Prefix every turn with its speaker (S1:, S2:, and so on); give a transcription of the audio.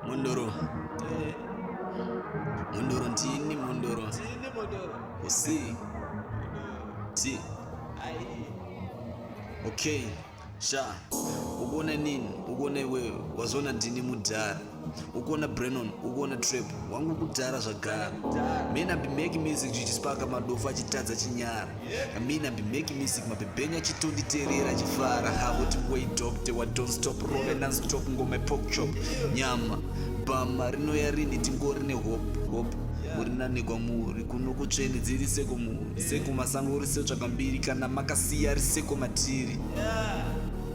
S1: Mundoro. Mundoro ndini Mundoro. Ndini Mundoro. Usi. Ti. Ai. Okay. Sha. Ukuona nini? Ukuona iwewe. Wazoona ndini mudhara. ukuona brennon ukuona trap wangu kudhara zvagara men abi make music chichispaka madofo achitadza chinyara amin abi make music mabhebhenya chitonditerera achifara havo tingoi docte wa don't stop rove nonstop ngoma pokchop nyama bhama rinoya rini tingori nehope hope murinanikwa muri kuno kutsveni dziri seko muri seko masango uri setsvaka mbiri kana makasiya ri seko matiri yeah.